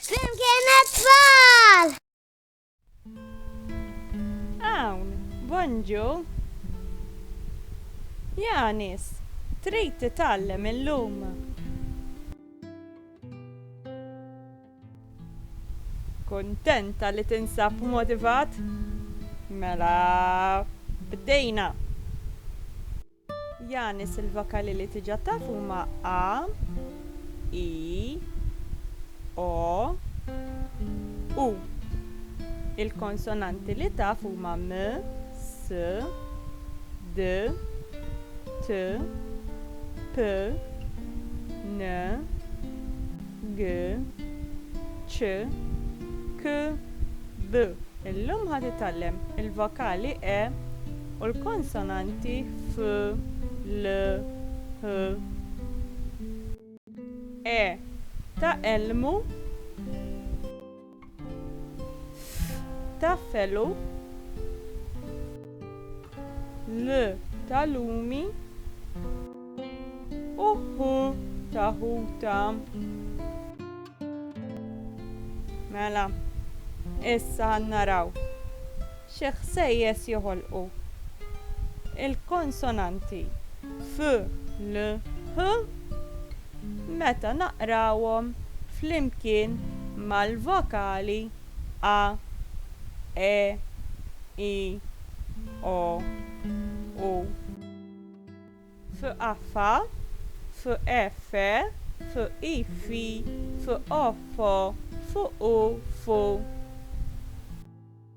Flimkien it-tfal! Hawn, Bonġu! Janis, trid titgħallem illum? Kuntenta li tinsab motivat? Mela, bdejna! Yanis il-vokali li diġà taf huma a, i, o, u. Il-konsonanti li taf huma m, s, d, t, p, n, G, C, K, D. Illum ħa titgħallem il-vokali E u l-konsonanti F, L, H. E ta' elmu. ta' felu L ta' lumi u H ta' ħuta. Mela, issa naraw Xi ħsejjes joħolqu l-konsonanti f, l, h meta naqrawhom flimkien mal-vokali a, e, i, o, u. F, a, fa, f, e, fe, f, i, fi, f, o, fo, f, u, fu.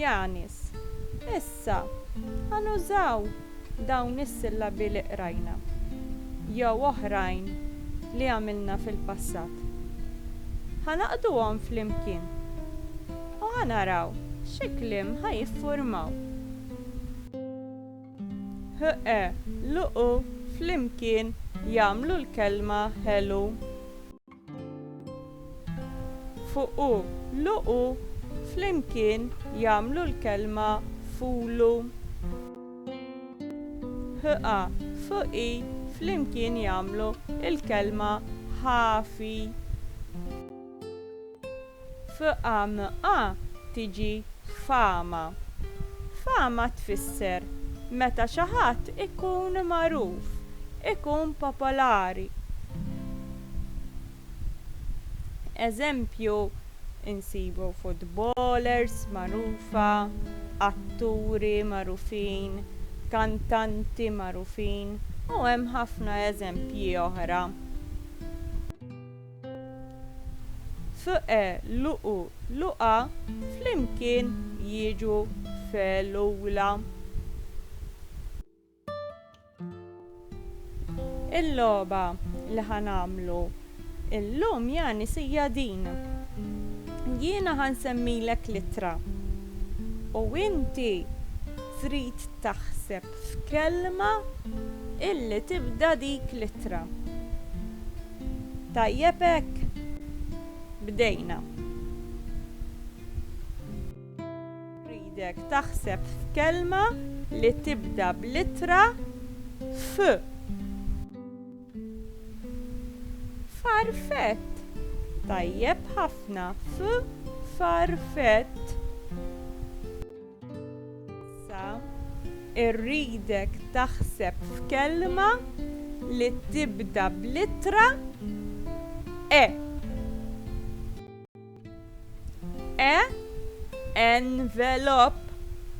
Janis, Issa, ħa nużaw dawn is-sillabi li qrajna, jew oħrajn li għamilna fil-passat. Ħa naqduhom flimkien u ħa naraw xi kliem ħa jiffurmaw. HE, Luqu flimkien jagħmlu l-kelma ħelu. Fuq u luq u flimkien jagħmlu l-kelma fulu. Ħ a f i flimkien jagħmlu l-kelma ħafi. F'AMA tiġi fama. Fama tfisser meta xi ħadd ikun magħruf, ikun popolari. Eżempju nsibu futbolers magħrufa, atturi magħrufin, kantanti magħrufin u hemm ħafna eżempji oħra. F'e luqu luqa flimkien jiġu f'elula. Il-logħba li ħa nagħmlu llum ja nies hija din, jiena ħa nsemmilek l-ittra u inti trid taħseb f'kelma illi tibda dik l-ittra. Tajjeb hekk. Bdejna. Rridek taħseb f'kelma li tibda bl-ittra F. Farfett. Tajjeb ħafna. F, farfett. Issa irridek taħseb f'kelma li tibda bl-ittra E. E envelop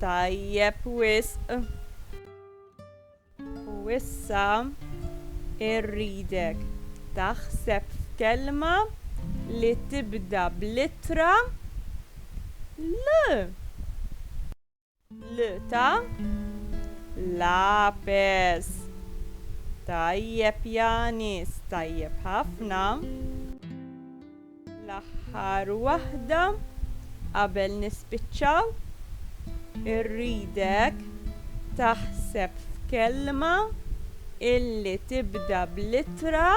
tajjeb wisq. U issa irridek taħseb f'kelma li tibda bl-ittra l. L ta' lapes. Tajjeb Yanis, tajjeb ħafna. L-aħħar waħda qabel nispiċċaw, irridek taħseb f'kelma illi tibda bl-ittra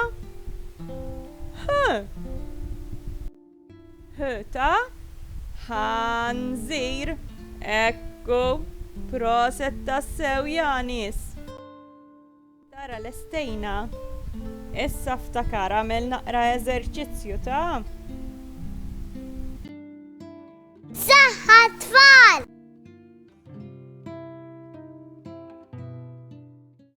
H. H ta' ħanżir. Ekku, proset tassew ja nies! Tara lestejna. Issa ftakar agħmel naqra eżerċizzju ta'. Saħħa t-tfal!